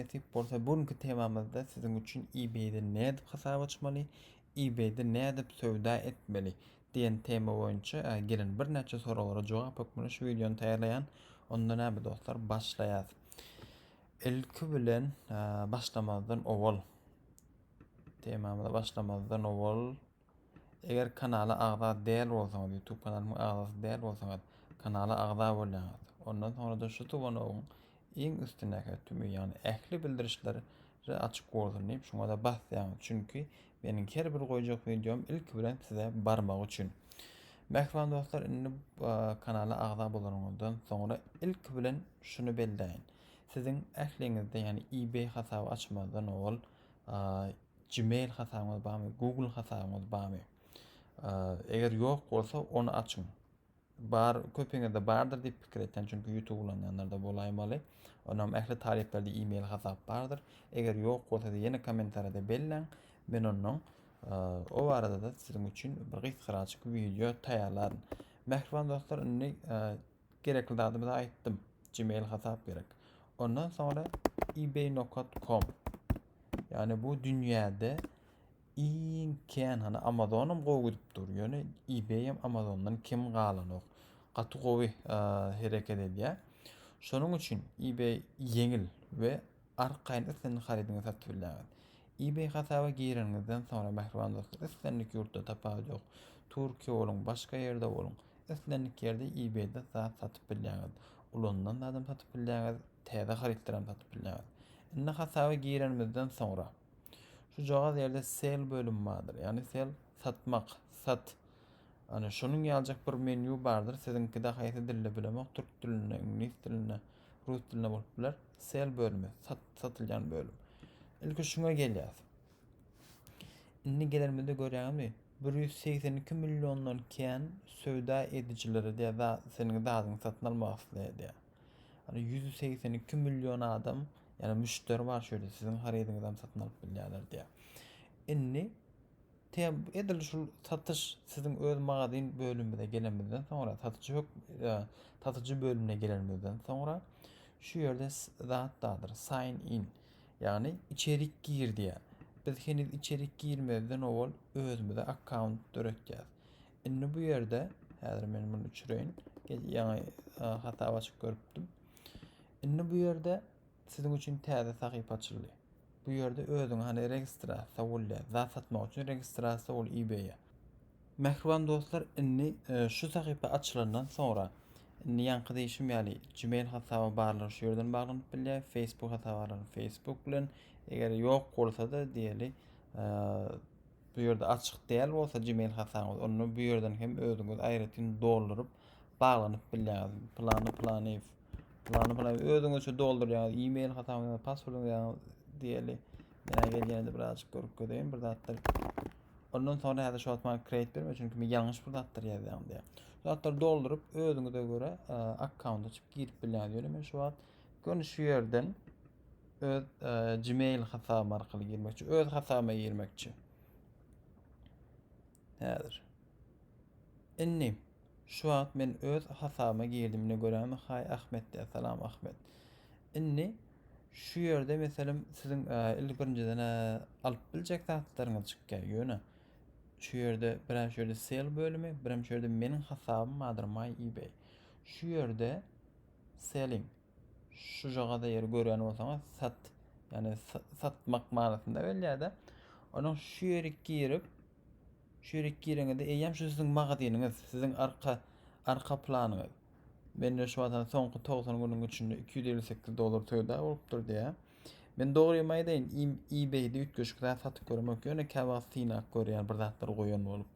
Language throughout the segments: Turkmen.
Nesip bolsa bu günki temamyzda siziň üçin eBay-de nädip hasap açmaly, eBay-de nädip söwda etmeli diýen tema boýunça gelen birnäçe soraglara jogap hökmünde şu wideony taýýarlaýan. Onda näme dostlar başlaýas. Ilki bilen başlamazdan owal temamyza başlamazdan owal Eger kanala agza däl bolsaňyz, YouTube kanalymyň agzasy däl bolsaňyz, kanala agza bolýaňyz. Ondan soňra-da şu tubanogyň iň üstündäki tümi, ýagny ähli bildirişleri açyk bolsun diýip, şuňa-da basýaňyz. Çünki meniň her bir goýjak wideom ilki bilen size barmagy üçin. Mähriban dostlar, indi kanala agza bolanyňyzdan soňra ilki bilen şuny belläýin. Siziň ähliňizde, ýagny eBay hasaby açmazdan owal, Gmail hasabyňyz barmy? Google hasabyňyz barmy? Eger ýok bolsa, ony açyň. Bar, köpüňizde bardyr diýip pikir etýän, çünki YouTube ulanýanlarda bolaýmaly. Onam ähli talyplarda e-mail hasap bardyr. Eger ýok bolsa, ýene kommentariýada belläň. Men ondan o barada-da siziň üçin bir gysgaraçyk wideo taýýarlaryn. Mähriban dostlar, indi Gerekli zadymy aýtdym. Gmail hasap gerek. Ondan soňra ebay.com. Yani bu dünýäde iň kän hany Amazonum gowy gidip dur. Ýöne eBay hem Amazondan kim galanok. Gaty gowy e, hereket edýär. Şonuň üçin eBay ýeňil we Arkaýyn islendik harydyňyzy satyp bilýäňiz. Ebay hasaba gireniňizden soňra mähriban dostlar islendik ýurtda tapawut ýok. Türkiýe boluň, başga ýerde boluň, islendik ýerde ebaýda zat satyp bilýäňiz. Ulanylan zadam satyp bilýäňiz, täze harytlaram satyp bilýäňiz. Indi hasaba girenimizden soňra şujagaz ýerde sell bölümi bardyr. Ýagny sell satmak, sat. Ana şonuň ýaljak bir menýu bardyr. Siziňkide haýsy dilde bilemok, türk dilinde, iňlis dilinde. Rus dilinde bolup biler. Sel bölümi, sat, satylýan bölüm. Ilki şuňa gelýäs. Indi gelerimizde görýäňizmi? 182 milliondan kän söwda edijilere diýär, da seniň zadyňy satyn almak isleýär diýär. Hani 182 million adam, ýani müşderi bar şöyle siziň harydyňyzy hem satyn alyp bilýärler diýär. Indi Tem, edil şul satyş siziň öz magazin bölümimize gelenimizden soňra, satyjy hök, e, satyjy bölümine gelenimizden soňra şu ýerde zat dadyr, sign in. Ýagny içerik gir diýýär. Biz heniz içerik girmezden owal özümize akkaunt döretýäs. Indi bu ýerde häzir men muny öçüreýin. Ýaňy hasap açyp görüpdim. Indi bu ýerde Siziň üçin täze sahypa açyldy. Bu ýerde özüňi hany registra sowulýa zat satmak üçin registra sowul ebaye. Mähriban dostlar indi şu sahypa açylandan soňra indi ýaňky diýşim ýaly gmail hasaby barlar şu ýerden baglanyp bilýär facebook hasaby barlar facebook bilen eger ýok bolsada diýeli bu ýerde açyk däl bolsa gmail hasabyňyz onda bu ýerden hem özüňiz aýratyn dolduryp baglanyp bilýäňiz plany planyýew Ýagny bula özüňizçe doldurýaňyz, e-mail hasabyňyzy, passwordyňyzy ýazyň diýeli. Menä gelýände birazjyk görüp göreýin bir zatlar. Ondan sonra häzir şu wagt maňa create berme, çünki men ýalňyş bir zatlar ýazýan diýär. Şu zatlar dolduryp özüňize göre e, akkaunt açyp girip bilýäňiz. Ýöne men şu wagt göni şu ýerden öz e, Gmail hasabym arkaly girmekçi, öz hasabyma girmekçi. Häzir. Indi, şu wagt men öz hasabyma girdim, ine görämi, haý Ahmet diýýär, salam Ahmet. Indi, şu ýerde meselem siziň il birinjiden-ä alyp biljek zatlaryňyz çykýar, ýöne şu ýerde birem şu ýerde sel bölümi, birem şu ýerde meniň hasabym bardyr my ebay. Şu ýerde selling şujagada ýeri görýän bolsaňyz sat, ýagny satmak manysynda gelýär-de. Onuň şu ýeri girip, Çörek gireňizde eýýäm şu siziň magazynyňyz, siziň arka arka planyňyz. Mende şu wagta soňky 90 günüň içinde 258 dollar söwda bolupdyr diýä. Men dogrymy aýdaýyn, eBay-de üýtgeşik zat satyp göremok, ýöne kä wagt synap görýän bir zatlar goýan bolup.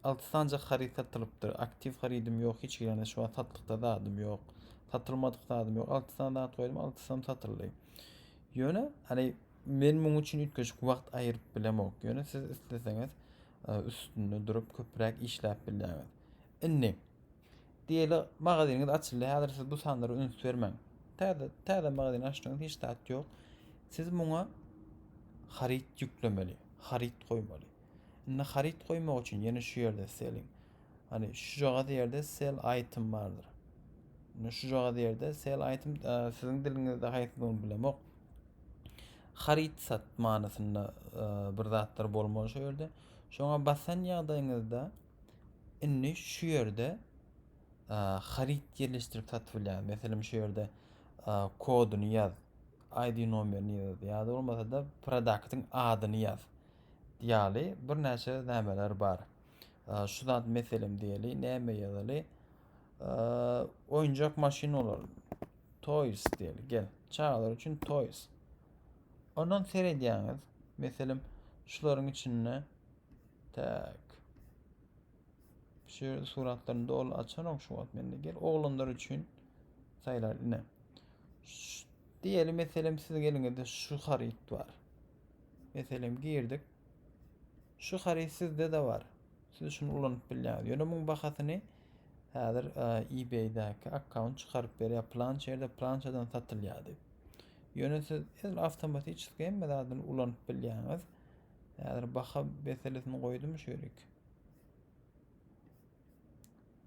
6 sanjak haryt satylypdyr. Aktiw harydym ýok, hiç ýerinde şu wagt satlykda zadym ýok. Satylmadyk zadym ýok. 6 sany zat goýdum, 6 sam satyldy. Ýöne, hani Men muň üçin üýtgeşik wagt aýyryp bilemok, ýöne siz isleseňiz e, üstünde durup köpräk işläp bilýäňiz. Indi diýeli magazynyňyz açyldy, häzir siz bu sanlara üns bermäň. Täze täze magazyn açdyňyz, hiç zat ýok. Siz muňa haryt ýüklemeli, haryt goýmaly. Indi haryt goýmak üçin ýene şu ýerde selling. Hani şu jagaz ýerde sell item bardyr. Indi şu jagaz ýerde sell item e, siziň diliňizde haýsydygyny bilemok. haryt-sat manysynda bir zatlar bolmaly şu ýerde. Şoňa basan ýagdaýyňyzda indi şu ýerde haryt ýerleşdirip satyp bilýär. Meselem şu ýerde koduny ýaz, ID nomerini ýaz ýa-da bolmasa-da produktyň adyny ýaz. Ýaly birnäçe nämeler bar. Şu zat meselem diýeli, näme ýazaly? Oýunjak maşyn olar. Toys diýeli. Gel. Çagalar üçin toys. Ondan seredýäňiz. Meselem, şularyň içinde tak. Şu ýerde suratlaryny doly açanok şu wagt mende. Gel oglanlar üçin saýlar ine. Diýeli meselem siz geliňizde şu haryt bar. Meselem girdik. Şu haryt sizde de bar. Siz şuny ulanyp bilýäňiz. Ýöne muň bahasyny häzir eBay-däki akkaunt çykaryp berýär. Plança ýerde plançadan satylýar diýip. Ýöne siz el awtomatiçeski hemme zadyny ulanyp bilýäňiz. Häzir baha meselesini goýdum şu ýerik.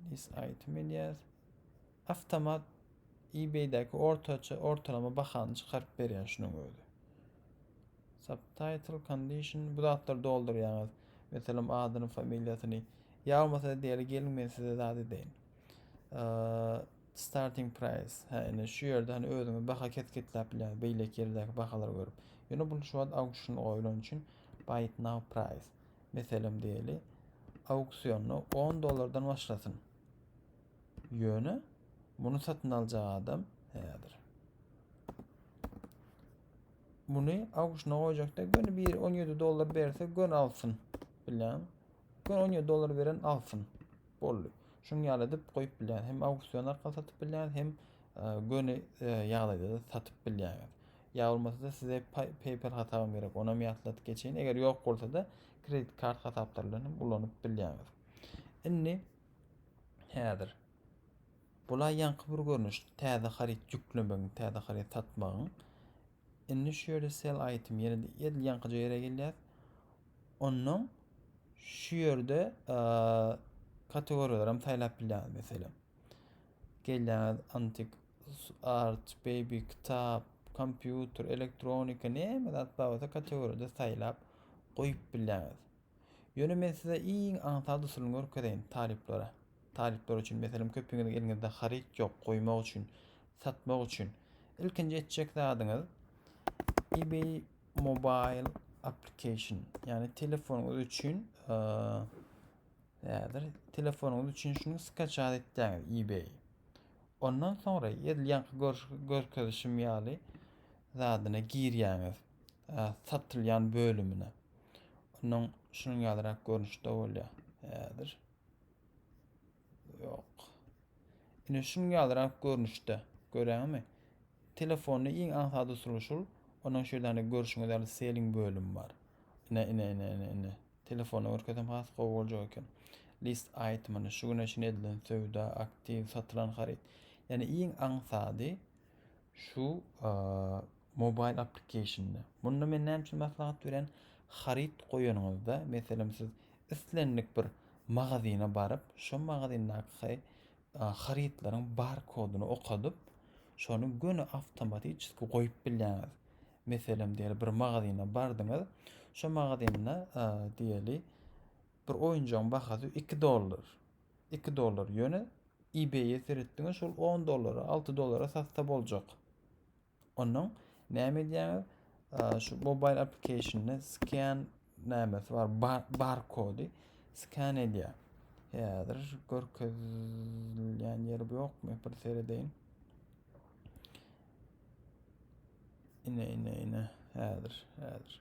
This item elýär. Awtomat eBay-däki ortaça ortalama bahany çykaryp berýär şunuň özi. Subtitle, condition, bu zatlary doldurýaňyz. Meselem adyny, familiýasyny. Ýa bolmasa diýeli geliň men size zat edeýin. Starting price. Hä indi şu ýerde hani özüňiz baha kesgitläp bilýäňiz beýleki ýerdäki bahalary görüp. Ýöne bu şu wagt auction goýlan üçin buy it now price. Meselem diýeli auksionda 10 dollardan başlasyn. Ýöne muny satyn aljak adam häzir. Muny auksyna goýjakda göni bir 17 dollar berse gön alsyn. Bilen. Gön 17 dollar beren alsyn. Boldy. Şuň ýaly edip goýup bilýän. Hem auksion arkaly satyp bilýän, hem e, göni e, ýagdaýda da satyp bilýän. Ýa bolmasa da size PayPal hasabyň gerek. Onam ýatladyp geçeýin. Eger ýok bolsa da kredit kart hasaplary bilen hem ulanyp bilýäňiz. Indi Häzir Bula ýaňky bir görnüş täze haryt ýüklemegiň, täze haryt satmagyň. Indi şu ýerde sell item ýene edil ýaňkyja ýere gelýär. Ondan şu ýerde kategoriýalary hem saýlap bilýäňiz meselem. Gelýäňiz antik art, baby, kitap, kompýuter, elektronika näme zat bar bolsa kategoriýada saýlap goýup bilýäňiz. Ýöne men size iň aňsat usulyny görkezeýin, talyplara. Talyplar üçin, meselem, köpüňiziň eliňizde haryt ýok, goýmak üçin, satmak üçin. Ilkinji etjek zadyňyz eBay Mobile Application, ýagny telefonyňyz üçin, häzir telefonyňyz üçin şuny skaçat etýäňiz eBay. Ondan soňra edil ýaňky görkezişim ýaly zadyna girýäňiz. satylýan bölümine. Ondan şunuň ýalyrak görnüşde bolýar. Häzir. Ýok. Ine şunuň ýalyrak görnüşde. Görýäňmi? Telefonyny iň aňsat usuly şul. Onuň şeýle görüşüňiz ýaly selling bölüm bar. Ine ine ine ine ine. Telefony görkezem has gowy boljak eken. List itemini şu güne çyn edilen söwda, aktiv, satylan haryt. Ýani iň aňsady Şu mobile application-da. Munda men näme üçin maslahat berýän? Haryt goýanyňyzda, meselem siz islendik bir magazyna baryp, şo magazyndaki harytlaryň bar kodyny okadyp, şony göni awtomatiçki goýup bilýäňiz. Meselem diýeli bir magazyna bardyňyz, şo magazynda diýeli bir oýunjagyň bahasy 2 dollar. 2 dollar ýöne ebaye seretdiňiz şol 10 dollara 6 dollara satsa boljak onuň näme edýäňiz şu mobile applicationda scan nämesi bar bar barkody scan edýär häzir görkezilýän ýeri ýokmy bir seredeýin ine ine ine häzir häzir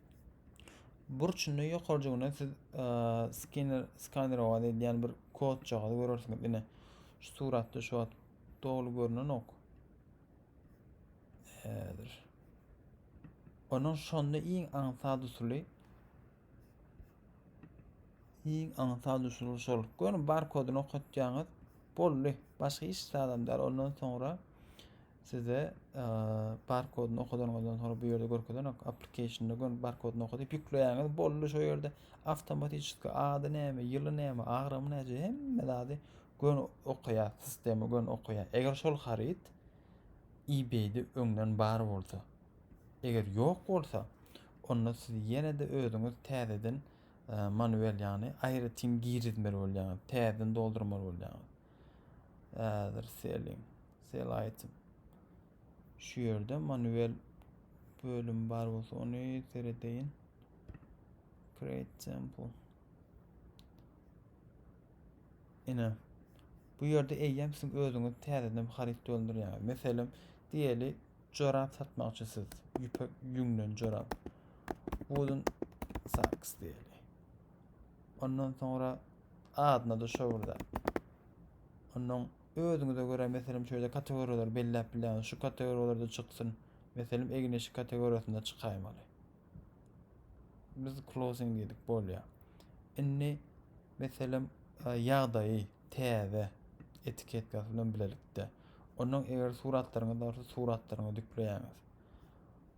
Burçunda ýokarjygyndan siz skener skanerowa edýän bir kodçagy görersiňiz. Ine şu suratda şu wagt doly görnenok. Häzir. Onuň şonda iň aňsat usuly iň aňsat usuly şol. Görün barkodyny okatýaňyz. Boldy. Başga hiç zadam däl. Ondan soňra Sizde bar kodyny okadanyňyzdan soňra bu ýerde görkezenok. Applicationda gön bar kodyny okadyp ýükleýäňiz. Boldy şu ýerde awtomatiki ady näme, ýyly näme, agramy näçe hemme zady gön okaýar, sistema gön okaýar. Eger şol haryt eBay-de öňden bar bolsa, eger ýok bolsa, onda siz ýene-de özüňiz täzeden manuel ýagny aýratyn girizmeli bolýaňyz, täzeden doldurmaly bolýaňyz. Ädir selin. Sel aýtyp. Şu ýerde manuel bölüm bar bolsa ony seredeýin. Create temple. Ine. Bu ýerde eýýäm siz özüňiz täzeden bir haryt doldurýaňyz. Meselem, diýeli jorap satmakçy siz. Ýüpek ýüňden jorap. Wooden socks diýeli. Ondan soňra adyna da şowurda. Ondan Özüňize görä meselem şeýle kategoriýalary belläp bilýäňiz, şu kategoriýalarda çyksyn, meselem egin-eşik kategoriýasynda çykaýmaly. Biz closing diýdik, bolýar. Indi meselem e, ýagdaýy täze etiketkasyny bilen bilelikde. Ondan eger suratlaryňyz bolsa suratlaryňy dükleýäňiz.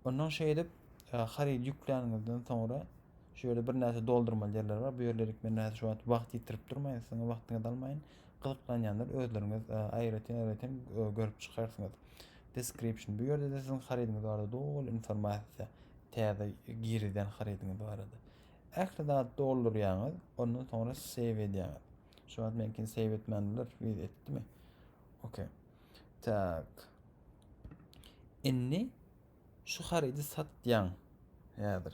Ondan şeýle edip e, harydy ýükläniňizden soňra şöyle bir näçe doldurmaly ýerler bar. Bu ýerleri men şu wagt wagt ýitirip durmaýyn, siziň wagtyňyzy almaýyn. Gyzyklanýanlar özleriňiz aýratyn aýratyn görüp çykarsyňyz. Description bu ýerde-de siziň harydyňyz barada doly informasiýa täze girizýän harydyňyz barada. Ähli zady doldurýaňyz, ondan soňra save edýäňiz. Şu wagt meňkini save etmän biler, wiz etdimi? Ok. Tak. Indi şu harydy satýaň häzir.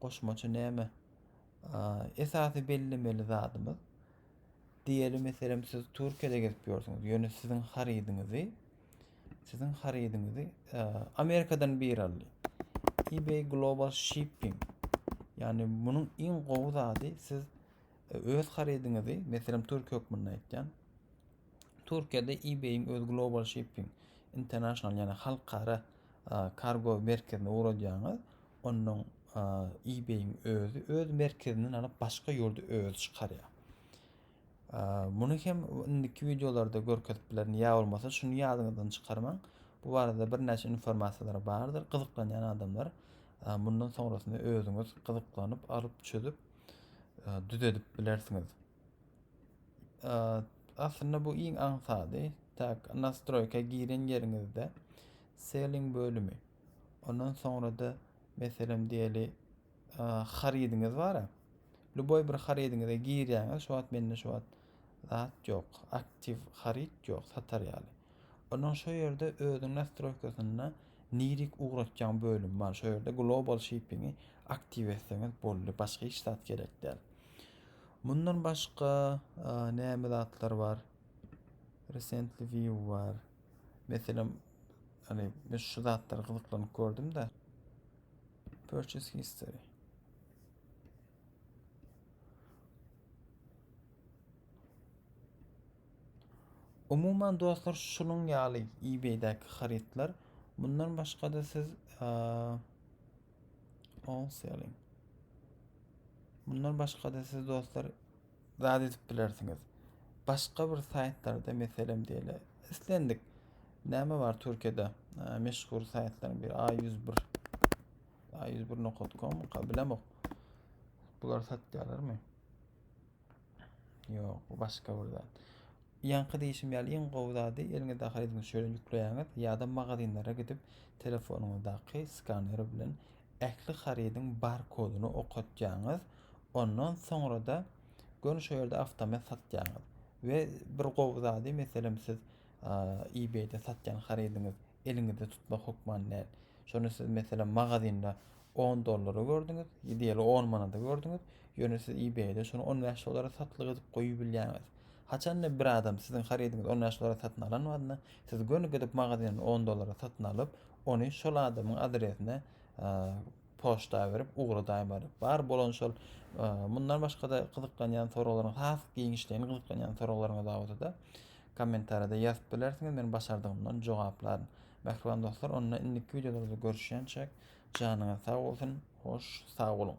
Goşmaça näme? Esasy bellemeli zadymyz, diýeli meselem siz Türkiýede gezip ýörsüňiz, ýöne siziň harydyňyzy siziň harydyňyzy Amerikadan bir aldy. eBay Global Shipping. Yani bunun iň gowy zady siz e, öz harydyňyzy, meselem Türkiýe hökmünde aýtýan, Türkiýede eBay-iň öz Global Shipping International, ýagny halkara kargo merkezine ugradýaňyz, ondan eBay-iň özi öz merkezinden alyp başga ýurda özi çykarýar. Muny hem indiki wideolarda görkezip bilerin. Ýa bolmasa şuny ýadyňyzdan çykarmaň. Bu barada birnäçe informasiýalar bardyr. Gyzyklanýan adamlar mundan soňrasyny özüňiz gyzyklanyp, alyp, çözüp, düzedip bilersiňiz. Aslynda bu iň aňsady. Tak, nastroýka giren ýeriňizde selling bölümi. Ondan soňra-da meselem diýeli harydyňyz bar. Luboý bir harydyňyza girýäňiz, şu wagt mende şu wagt zat ýok, aktiw haryt ýok satar ýaly. Ondan şu ýerde özüň nastroýkasynda nirik ugratýan bölüm bar. Şu ýerde global shippingi aktiw etseňiz boldy. Başga hiç zat gerek däl. Mundan başga näme zatlar bar? Recently view bar. Meselem, hani men şu zatlary gyzyklanyp gördüm de. Purchase history. Umuman dostlar şunun ýaly eBay-däki harytlar. Mundan başga-da siz All selling. Bundan başga-da siz dostlar zat edip bilersiňiz. Başga bir saýtlarda meselem diýeli. Islendik. Näme bar Türkiýede? Meşhur saýtlaryň biri A101. A101.com bilemok. Bular satýarlarmy? Ýok, bu başga bir zat. Ýaňky diýişim ýaly iň gowy zady eliňizde harydyňyzy şöyle ýükleýäňiz ýa-da magazinlere gidip telefonuňyzdaky skaner bilen ähli harydyň barkodyny okatýaňyz. Ondan soňra-da göni şu ýerde awtomat satýaňyz. We bir gowy zady, meselem siz eBay-de satýan harydyňyz eliňizde tutmak hökman däl. Şony siz meselem magazynda 10 dollara gördüňiz, diýeli 10 manada gördüňiz, ýöne siz eBay-de şony 15 dollara satlyk edip goýup bilýäňiz. Haçanda bir adam siziň harydyňyzy 15 dollara satyn alan wagtynda, siz göni gidip magazyndan 10 dollara satyn alyp, ony şol adamyň adresine poçta berip ugradaýmaly. Bar bolan şol mundan başga-da gyzyklanýan soraglaryň has giňişleýin gyzyklanýan soraglaryňyz barada-da Kommentariýada ýazyp bilersiňiz men başardygymdan jogaplaryn. Mähriban dostlar onda indiki wideolarda görüşýänçäk janyňyz sag bolsun hoş sag boluň.